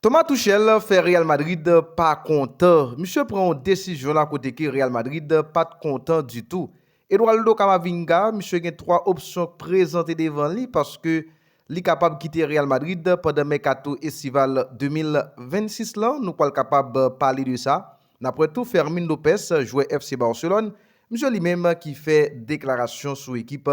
Thomas Tuchel fè Real Madrid pa kontan. Misye pran yon desizyon la kote ke Real Madrid pat kontan ditou. Eduardo Camavinga, misye gen 3 opsyon k prezante devan li paske li kapab kite Real Madrid pandan mèkato estival 2026 lan, nou pwal kapab pale de sa. N ap wè tou Fermin Lopes, jwè FC Barcelone, msye li menm ki fè deklarasyon sou ekip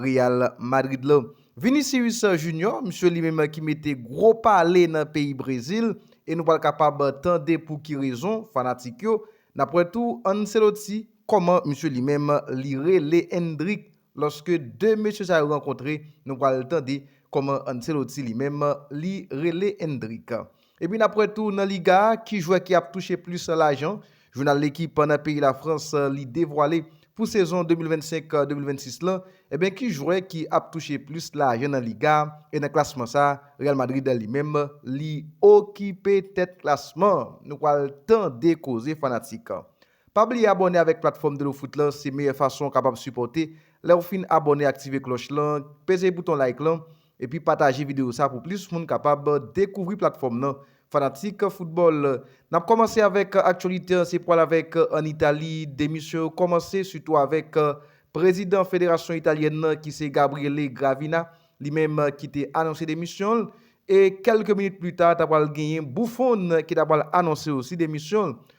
Real Madrid la. Vinicius Junior, msye li menm ki mete gwo pale nan peyi Brezil e nou pral kapab tande pou ki rezon, fanatik yo. N ap wè tou Ancelotti, kòman msye li menm li rele Endrick Lòske 2 mesye sa yo rankontre, nou pral tande kòman Ancelotti li menm li rele Endrick. Epi n ap wè tou nan Liga a ki jwè ki ap touche plis lajan. Jounal L'Equipe nan peyi Lafrans li devwale pou sezon 2025, 2026 lan, enben ki jwè ki ap touche plis lajan nan Liga a e nan klasman sa a Real Madrid li menm li okipe tèt klasman an. Nou pral tande koze fanatik Pa bliye abòne avèk platfòm Delofoot lan se meyè fason w kapab sipòte lèw fin abòne aktive klòch lan peze bouton like lan epi pataje video sa pou plis moun kapab dekouvri platfòm nan fanatik foutbòl nap kòmanse avèk aktyolite an se pwal avèk an Itali demisyon yo kòmanse sitou avèk prezidan federasyon italyèn nan ki se Gabriele Gravina li menm ki te anonse demisyon l e kèlke minit plita ta pwal genyen Buffon ki ta pwal anonse osi demisyon l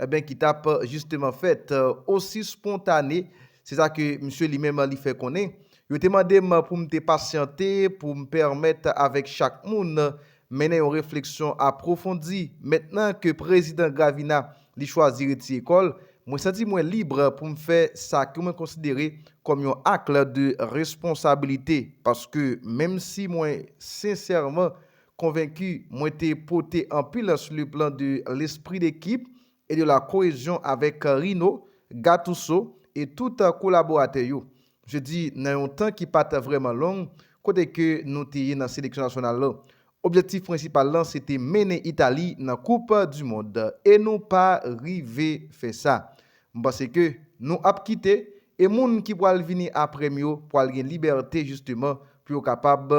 Enben ki tap jisteman fèt osi spontane, se sa ke misye li menm li fè konnen. Yo te mande m pou m te pasyante pou m pèmèt avèk chak moun mennen yon refleksyon apwofondi. Mentnan ke Prezidan Gravina li chwazi retire kò l, mwen santi mwen lib pou m fè sa ke mwen konsidere kòm yon akl de responsabilite paske menm si mwen sensèman Konvenki, mwen te pote anpil slu plan de lespri dekip e de la koezyon avèk Rino, Gatouso e tout kolaboratè yo. Je di nan yon tan ki pa t vrèman long kote ke nou te ye nan seleksyon nasyonal lan. Objektif prensipal lan se te mennen Itali nan koup du mond e nou pa rive fè sa. M panse ke nou ap kite e moun ki pwal vini apre m yo pwal gen libète jisteman pou yo kapab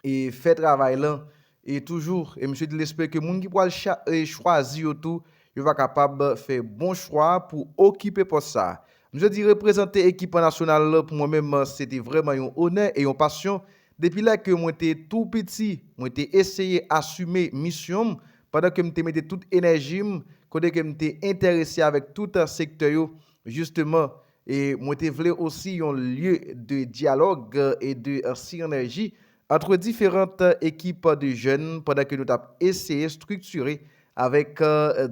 e fè travay lan e toujou e misye di l espere ke moun ki pwal chwazi yo tou yo va kapab fè bon chwa pou okipe pòs sa. Misye di reprezante ekip an nasyonal pou mwen menm se te vrèman yon onè e yon pasyon depi lè ke mwen te tou piti mwen te eseye asime misyon m pandan ke m te mete tout enèji m kote ke m te entèrese avèk tout sektè yo jisteman E mwen te vle osi yon lye de dyalòg e de sinèji antre diferant ekip de jèn pandan ke nou tap eseye striktire avèk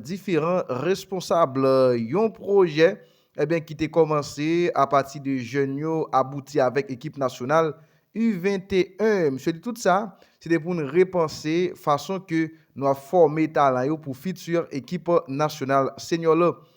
diferan responsab yon pwojè ebyen ki te kòmanse apati de jèn yo abouti avèk ekip nasyonal U 21. Msye di tout sa se te pou n repanse fason ke nou ap fòme talan yo pou fiti ekip nasyonal senyò la.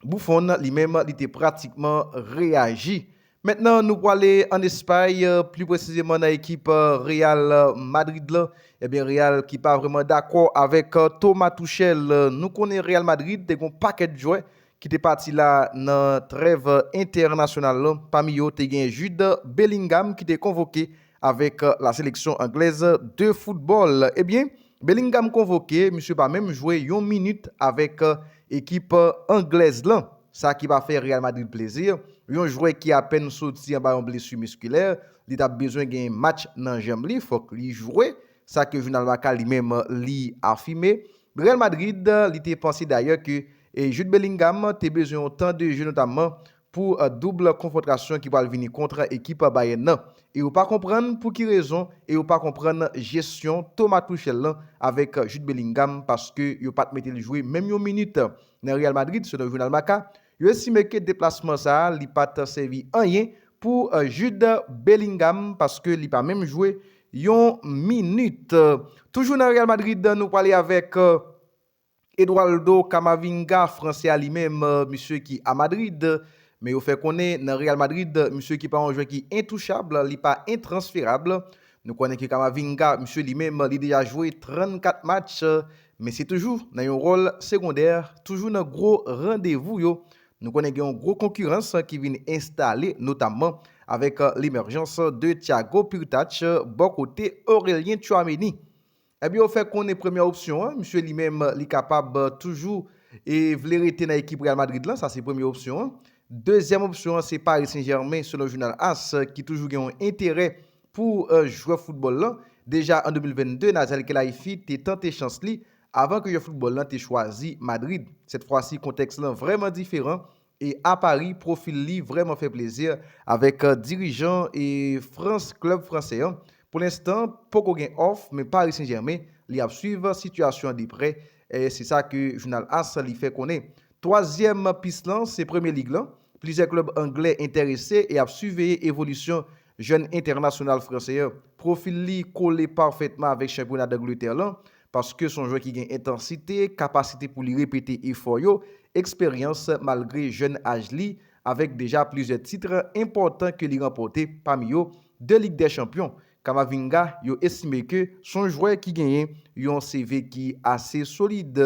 Buffon li menm li te pratikman reyaji. Mentnan nou pwale an Espay, pli presizeman nan ekip Real Madrid la. Ebyen Real ki pa vreman dakò avèk Thomas Tuchel. Nou konnen Real Madrid te gon pakèt jwè ki te pati la nan trèv entènasyonal la. Pami yo te gen Jude Bellingham ki te konvoke Avèk la seleksyon anglèz de foutbòl, ebyen Bellingham konvoke, misye pa menm jwe yon minit avèk ekip anglèz lan. Sa ki pa fè Real Madrid plezi, yon jwè ki apèn soti anba yon blesu miskilè, li tap bezwen gen match nan janm li, fòk li jwe, sa ke jounal Marca li menm li afime. Real Madrid li te panse dayè ke Jude Bellingham te bezwen yon tan de je notamman pou double konfwontrasyon ki pral vini kontr ekip Bayern nan e yo pa konprann pou ki rezon e yo pa konprann jesyon Thomas Tuchel lan avèk Jude Bellingham paske yo pat mete l jwe menm yon minit nan Real Madrid selon jounal Marca yo estime ke deplasman sa li pat sèvi anyen pou Jude Bellingham paske li pa menm jwe yon minit. Toujou nan Real Madrid nou prale avèk. Eduardo Camavinga, fransè a li menm, misye ki a Madrid, men yo fè konnen nan Real Madrid, misye ki pa yon jwè ki entouchab, li pa entransferab. Nou konnen ke Camavinga, misye li menm, li deja jwe 34 match, men se toujou nan yon wòl segondè, toujou nan gwo randevou yo. Nou konnen gen yon gwo konkirans ki vin enstale, notamman avèk lemèjans de Thiago Pirtach bò kote Aurelien Tchouaméni. Ebyen yo fè konnen premyè opsyon an, misye li menm li kapab toujou e vle rete nan ekip Real Madrid lan, sa se premye opsyon an. Dezyèm opsyon an se Paris Saint Germain selon jounal as ki toujou gen yon enterè pou jwè foutbòl lan. Deja an 2022 Nathaniel Khelaifi te tante chans li avan ke jwè foutbòl lan te chwazi Madrid. Sèt fwa si kontèks lan vrèman diferan E a Paris profil li vrèman fè plezi avèk dirijan e France club fransè an pou lenstan poko gen òf men Paris Saint Germain li ap swiv sitiyasyon an de prè se sa ke jounal as li fè konnen. Twazyèm pis lan se Premier League lan, plizyè klub anglè entèrese e ap siveye evolisyon Jèn entènasyonal franse an, pwofil li kole pafètman avèk chanpyona Dangletè lan, paske son jwè ki gen entansite, kapasite pou li repete efò yo, eksperyans malgre jèn aj li, avèk deja plizyè titre enpòtan ke li ranpòte, pami yo, 2 Lig dè Chanpyon. Camavinga, yo estime ke son jwè ki genyen yon CV ki ase solid,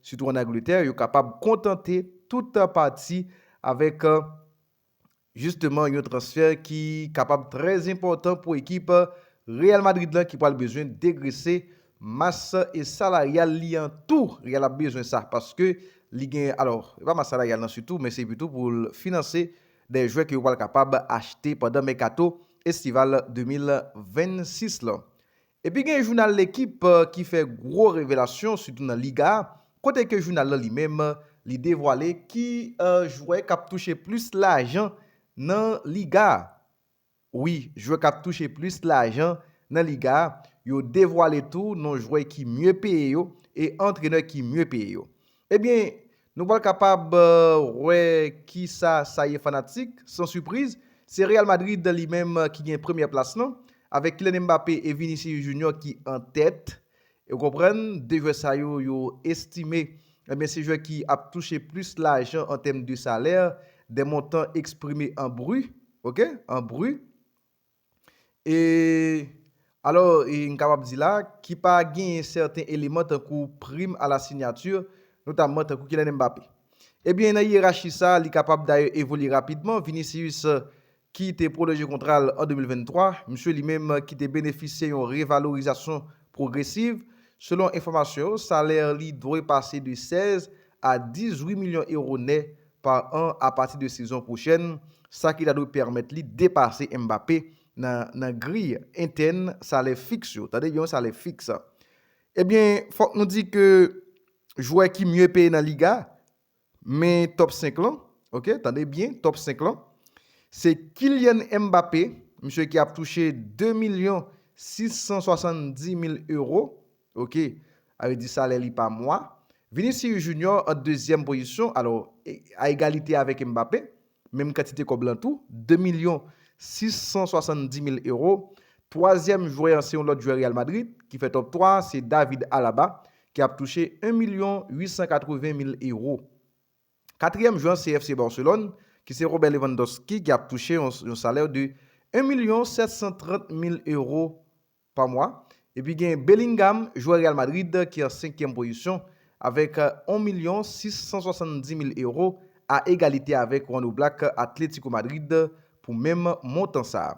sitou an Angletè, yo kapab kontante tout pati avèk. Jisteman yon transfè ki kapab trè enpòtan pou ekip Real Madrid lan ki pral bezwen degrese mas salaryal li an tou. Real ap bezwen sa paske li gen, alò se pa mas salaryal nan sitou men se pito pou l finanse dè jwè ke yo pral kapab achte pandan mèkato estival 2026 lan. Epi gen jounal Lekip ki fè gwo revelasyon sitou nan Liga a, kote ke jounal lan li menm li devwale ki jwè kap touche plis lajan nan Liga a. Wi, jwè kap touche plis lajan nan Liga a, yo devwale tou non jwè ki mye peye yo e antrenè ki mye peye yo. Ebyen, Nou pral kapab wè ki sa sa ye fanatik, san sipriz, se Real Madrid li menm ki gen premyè plas lan, avèk Kylian Mbappé e Vinicius Junior ki an tèt. Ou konprann, 2 jwè sa yo, yo estime, ebyen se jwè ki ap touche plis lajan an tèm de salè, des montants exprimes en bruts, ok, en bruts. E, alò, e n kapab di la, ki pa genyen sèten eleman tankou prim a la sinyati, notamman tankou Kylian Mbappé. Ebyen, nan yerachi sa a, li kapab dayè evolye rapidman, Vinicius ki te pwolonje kontra l an 2023, msye li menm ki te benefisye yon revalorizasyon pwogresiv, selon enfòmasyon yo, salè li dwe pase de 16 a 18 milyon ewo nè pa an apati de sezon pwochèn, sa ki ta dwe pèmèt li depase Mbappé nan nan griy entèn salè fiks yo. Tande byen, salè fiks. Ebyen, fòk nou di ke jwè ki mye peye nan Liga, men top 5 lan, ok, tande byen, top 5 lan, se Kylian Mbappé, misye ki ap touche 2 milyon 670 mil euro, Ok Al di salè li pa mwa. Vinicius Junior an dezyèm pozisyon alò a egalite avèk Mbappé, menm kantite kòb lan tou, 2 milyon 670 mil ewo. Twazyèm jwè an se yon lòt jwè Real Madrid ki fè top 3 a, se David Alaba ki ap touche 1 milyon 880 mil ewo. Katriyèm jwè an se FC Barcelone ki se Robert Lewandowski ki ap touche yon salè de 1 milyon 730 mil ewo pa mwa. Epi gen Bellingham, jwè Real Madrid ki an senkyèm pozisyon avèk on milyon 670 mil ewo a egalite avèk Juan Oblak Atlético Madrid pou menm montan sa.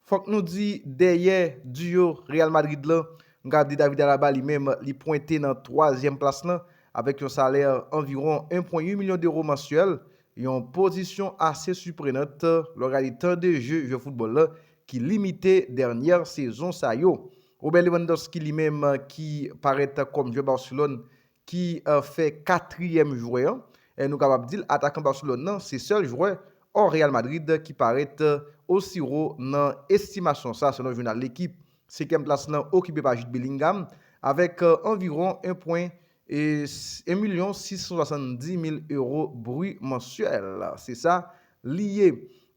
Fòk nou di dèyè duo Real Madrid lan, mga di David Alaba li menm li pwente nan twazyèm plas lan avèk yon salè anviwon 1.8 milyon dewo mansyèl, yon pozisyon ase siprenant lè w gade tan de je jwè foutbòl lan ki limite dènyè sezon sa yo. Robert Lewandowski li menm ki parèt kòm jwè Barcelone ki fè katriyèm jwè an, nou kapab di l atakan Barcelone nan, se sèl jwè ò Real Madrid ki parèt osi wo nan estimasyon sa selon jounal L'Equipe. Senkyèm plas lan okipe pa Jude Bellingham avèk anviwon 1 pwen 1 milyon 670 mil euro bri mansyèl, se sa li ye.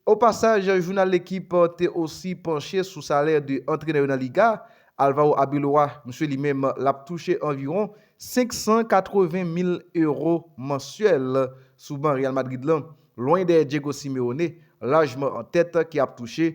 O pasaj, jounal Lekip te osi panche sou salè 2 antrenè yo nan Liga. Alvaro Arbeloa, msye li menm, l ap touche anviwon 580 mil euro mansyèl sou ban Real Madrid lan, lwen dèyè Diego Simeone, lajman an tèt, ki ap touche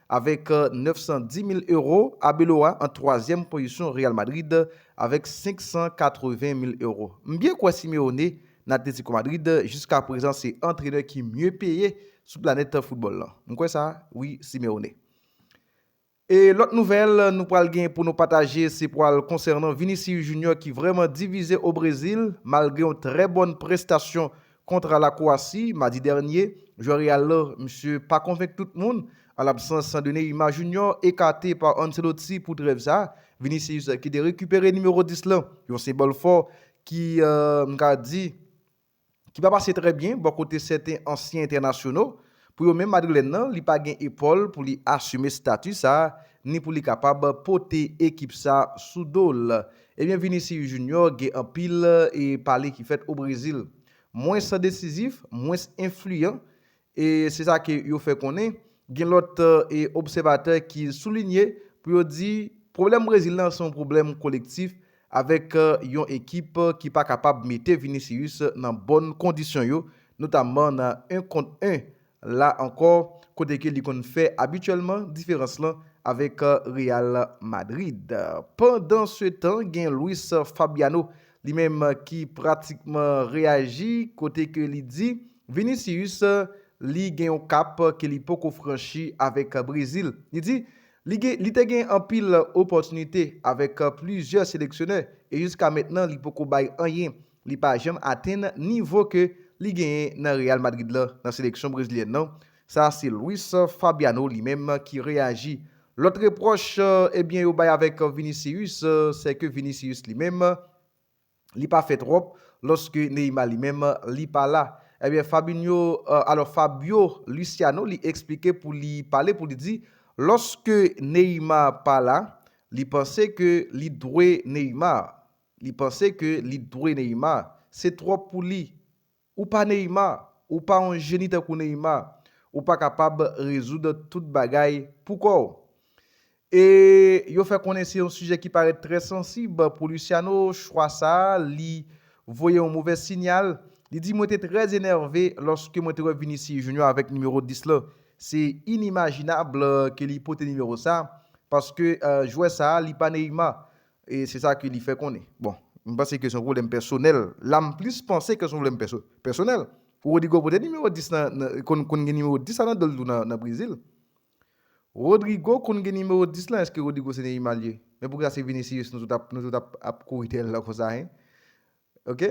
Avèk 910 mil ewo, Abeloa an twazyèm pozisyon Real Madrid avèk 580 mil ewo. M byen kwè Simeone nan Atlético Madrid jiska prezan se antrenè ki mye peye sou planèt foutbòl lan. M kwè sa wi Simeone. E lòt nouvèl nou pral gen pou nou pataje se pral konsènan Vinicius Junior ki vrèman divize o Brezil malgre yon trè bòn prestasyon Kontra la Kwasi, madi dènye, jwè Real la, misye pa konvenk tout moun, an labsans de Neymar Junior, ekate pa Ancelotti pou trèv sa, Vinicius ki te rekipere nimewo 10 la, yon senbòl fò ki, m ka di, ki pa pase trè byen bò kote sèten ansyen entènasyono. Pou yo menm Madrilèn nan li pa gen epòl pou li asime stati sa ni pou li kapab pote ekip sa sou do l. Ebyen Vinicius Junior gen anpil e pale ki fèt o Brezil. Mwens desizif, mwens enfliyan e se sa ke yo fè konnen. Gen lòt e obsèvatè ki soulinye pou yo di pwoblèm Brezil la se yon pwoblèm kolektif Avèk yon ekip ki pa kapab mete Vinicius nan bòn kondisyon yo, notamman nan 1 kont 1 la ankò, kote ke li konn fè abityèlman diferans lan avèk Real Madrid. Pandansetan gen Luis Fabiano li menm ki pratikman reyaji kote ke li di Vinicius li gen yon kap ke li poko franchi avèk Brezil. Li di, Li gen li te gen anpil opòtinite avèk plizyè seleksyonè e jiska mentnan li poko bay anyen, li pa janm atenn nivo ke li genyen nan Real Madrid lan nan seleksyon brezilyèn lan, sa se Luis Fabiano li menm ki reyaji. Lòt repwòch ebyen yo bay avèk Vinicius sè ke Vinicius li menm, li pa fè trop loske Neymar li menm li pa la ebyen Fabinho alò Fabio Luciano li esplike pou li pale pou li di loske Neymar pa la li panse ke li dwe Neymar li panse ke li dwe Neymar se trop pou li Ou pa Neymar, ou pa yon jeni tankou Neymar, ou pa kapab rezoud tout bagay pou kò w. E yo fè konnen se yon sijè ki parèt trè sansib pou Luciano, chwa sa li voye yon movè sinyal, li di mwen te trè enève lòske mwen te wè Vinicius Junior avèk nimewo 10 lan, se inimajinab ke li pote nimewo sa paske jwè sa li pa Neymar, E se sa ke li fè konnen. Bon, m panse ke se yon pwoblèm pèsonèl. La m plis panse ke se yon pwoblèm pèsonèl. Rodrygo pote nimewo 10 nan, konn konn gen nimewo 10 la nan do l tou nan Brezil. Rodrygo konn gen nimewo 10 lan, èske Rodrygo se Neymar l ye? Men poukisa se Vinicius nou tout ap nou tout ap ap kouri dèyè l lan konsa hein? Ok.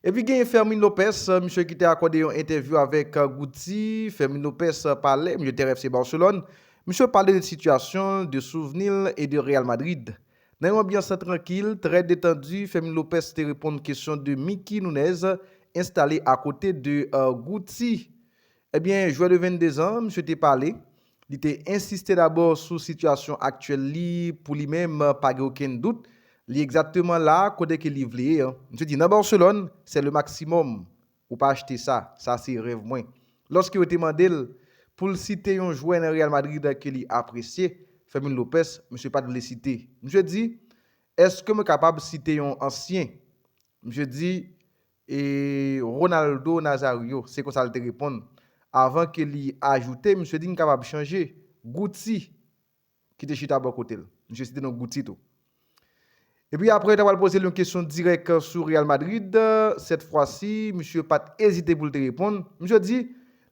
Epi genyen Fermin Lopez, misye ki te akòde yon entèvyou avèk Guti, Fermin Lopez pale, misye te rêve FC Barcelone, misye pale de sitiyasyon l, de souvni l e de Real Madrid. Nan yon anbyans trankil, trè detandi, Fermin Lopez te reponn kesyon de Mickey Nunez, enstale akote de Guti. Ebyen, jwè de 22 zan an, misye te pale, li te ensiste dabò sou sitiyasyon aktyèl li, pou li menm, pa gen okenn dout, li egzakteman la a kote ke li vle ye an. Misye di, nan Barcelone, c'est le maximum, ou pa achte sa, sa se rèv mwen. Lòske yo te mande l, pou l site yon jwè nan Real Madrid ke li apresye, Fermin Lopez, misye pa t vle site. Misye di, Eske mwen kapab site yon ansyen? Misye di, E Ronaldo Nazario, se konsa l te reponn, avan ke li ajoute, misye di m kapab chanje. Guti, ki te chita bò kote l, misye site non Guti tou. Epi apre yo ta pral poze l yon kesyon dirèk sou Real Madrid, sèt fwa si, misye pa t ezite pou l te reponn. Misye di,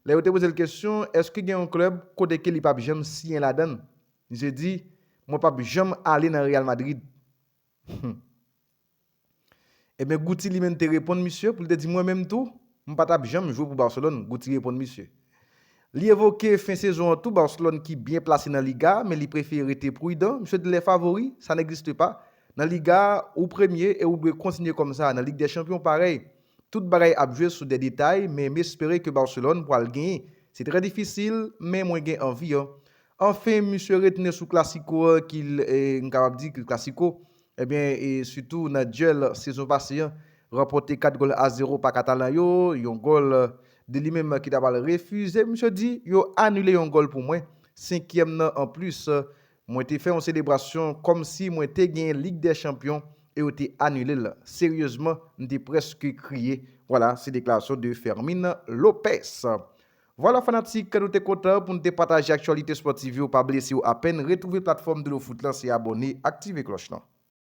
lè yo te poze l kesyon, èske gen yon klèb kote ke li pap janm siyen ladan l? Misye di, mwen pap janm ale nan Real Madrid. Humm. Ebyen Guti li menm te reponn misye pou li te di mwen menm tou, m pa tap janm jwe pou Barcelone, Guti reponn misye. Li evoke fen sezon an tou Barcelone ki byen plase nan Liga a men li prefere rete prudan, misye di les favoris, ça n'existe pas, nan Liga a ou premye e ou dwe kontinye kòm sa, nan Lig dè Chanpyon parèy. Tout bagay ap jwe sou dè detay men m espere ke Barcelone pwal genyen. Se trè difisil men mwen gen anvi an. Anfen, misye retounen sou klasiko an ki l, m kapab di, ki l klasiko, ebyen, e sitou nan dyèl sezon pase an, ranpòte 4 gòl a 0 pa Katalan yo, yon gòl de li menm ki ta pral refize, misye di, yo anile yon gòl pou mwen, senkyèm nan an plis, mwen te fè yon selebrasyon kòm si mwen te genyen Lig dè Chanpyon e yo te anile l, seryezman, m te prèske kriye. Vwala, se deklarasyon de Fermin Lopez. Vwala fanatik, nou te kontan pou n te pataje aktyalite spòtiv yo, pa bliye siw apèn retwouve platfòm Dlo Foot lan se abòne, aktive klòch lan.